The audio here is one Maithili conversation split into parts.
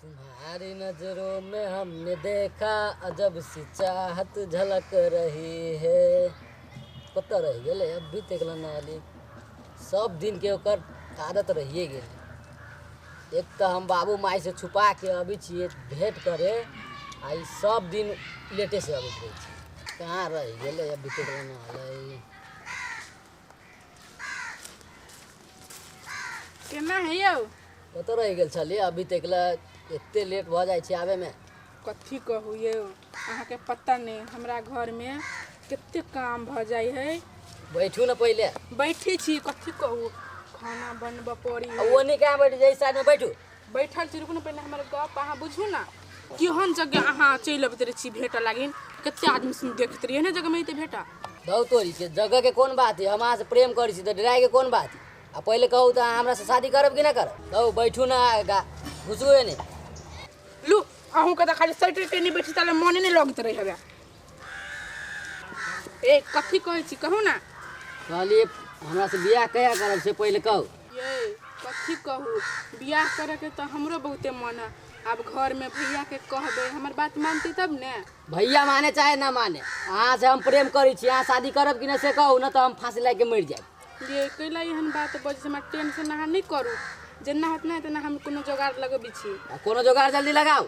तुम्हारी नजरों में हमने देखा अजब सी चाहत झलक रही है पता रह गए अब भी तकला ना आली सब दिन के ओकर आदत रहिए गेल एक तो हम बाबू माई से छुपा के अभी छिए भेंट करे आ ई सब दिन लेटे से अबैत रहे छी कहाँ रह गेलै अब भी तकला ना आलै केना है यौ कतऽ रहि गेल छलियै अभी तक लए एते लेट भऽ जाइ छै आबे मे कथी कहू यौ अहाँके पता नहि हमरा घरमे कते काम भऽ जाइ है बैठू ने पहिले बैठी छी कथी कहू खाना बनबऽ पड़ी आ है। ओने कहाँ बैठू जे साइड मे बैठू बैठल छी रुकू ने पहिने हमर गप अहाँ बुझू ने केहन जगह अहाँ चलि अबैत रहै छी भेटऽ लागिन कते आदमी सुन देखैत रही एहने जगह में एते भेटा दौ तोरी के जगह के कोन बात है हम अहाँ से प्रेम करै छी तऽ डराय के कोन बात है आ पहिले कहू तऽ अहाँ हमरा से शादी करब कि नहि करब दौ बैठू ना आगा घुसू एने लू अहूँ के तऽ खाली सटि के नहि बैठी ताले मोने नहि लगैत रहै हवे ए कथी कहै छी कहू ना कहलिए हमरा से बियाह कहिया करब से पहिले कहू ये कथी कहू बियाह करे के तो हमरो बहुते मन है अब घर में भैया के कहबे हमर बात मानती तब ने भैया माने चाहे ना माने अहाँ से हम प्रेम करै छी अहाँ शादी करब कि ना से कहू ना तो हम फांसी लगा के मर जाएब ये कैला एहन बात बज से हमरा टेंशन अहाँ नहीं करू जेना होत ना तेना हम कोनो जोगाड़ लगबी छी आ कोनो जोगाड़ जल्दी लगाओ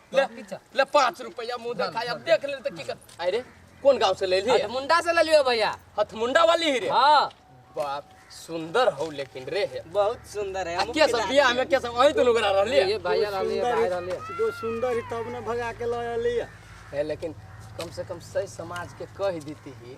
ले ले पाँच रुपया मुँह देखाय अब देख ले तो की कर अरे कौन गांव से ले ली हथ मुंडा से ले लियो भैया हथमुंडा वाली ही रे हाँ बाप सुंदर हो लेकिन रे हे बहुत सुंदर है आ के सब बिया हमें के सब वही दुनु गरा रहली ये भैया रहले सुंदर भाई रहले ही- जो सुंदर ही तब ने भगा के लय लिया है लेकिन कम से कम सही समाज के कह देती ही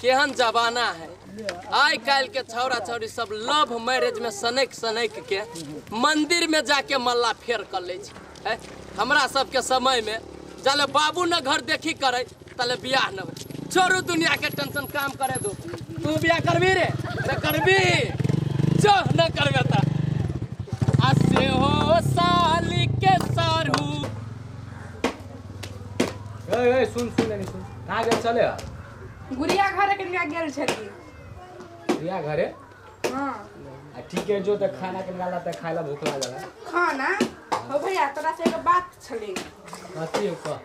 केहन जमाना है आइ काल्हि के छौड़ा छौड़ी सब लव मैरिज में सनैक सनैक के मंदिर में जाके मल्ला फेर कर ले छै हैं? हमरा सबके समय में जाले बाबू न घर देखी करे तले बियाह न होय छोड़ू दुनिया के टेंशन काम करे दो तू बियाह करबी रे रे करबी जो न करबे ता आ से हो साली के सारू ए, ए, सुन सुन एने सुन कहाँ गेल छलै हँ? गुड़िया घरे कनिया गेल छलियै प्रिया घरे हँ आ ठीके जो तऽ खाना के निकाला तऽ खाय ला भूख लागल है खाना हो भैया तोरा से एगो बात छलै कथी हो कह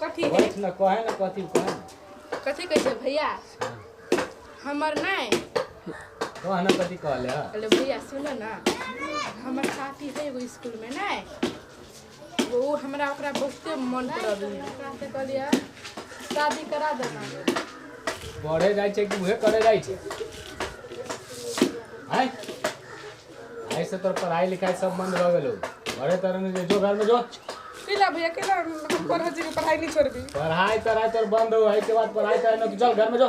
कथी है बैठ न कहे न कथी हो कहे न। कथी कहै छै भैया हमर नहि कह न कथी कहले है अरे भैया सुन न हमर साथी है एगो स्कूल में नहि ओ हमरा ओकरा बहुते मन पड़ल से कहलियै शादी करा देना बढ़े जाइ छै कि उहे करे जाइ छै आय आय से तोर पढ़ाई लिखाई सब बंद रह गेलो घरे तर में जे जो घर में जो केला भैया केला हम पढ़ जी पढ़ाई नहीं छोड़बी पढ़ाई तढ़ाई तोर बंद हो है के बाद पढ़ाई तढ़ाई ना तू चल घर में जो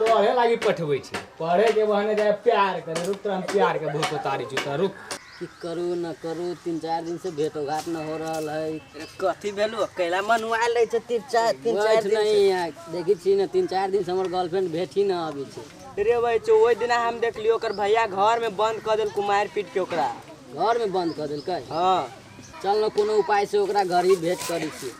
पढ़े लागी पठबै छी पढ़े के बहाने जाए प्यार करे रुक तोरा हम प्यार के भूत उतारी छी तोरा रुक की करू न करू तीन चार दिन से भेंट घाट न हो रहल है अरे कथी भेलू कैला मनुआ ले छै तीन चार तीन चार बैठ दिन नहीं से। यहाँ देखी छी न तीन चार दिन से हमर गर्लफ्रेंड भेंट ही न अभी छै रे भाई चो ओहि दिना हम देखलियो ओकर भैया घर में बंद कर देल कुमार पीट के ओकरा घर में बंद कर देलकै हाँ चल न कोनो उपाय से ओकरा घर ही भेंट करी छी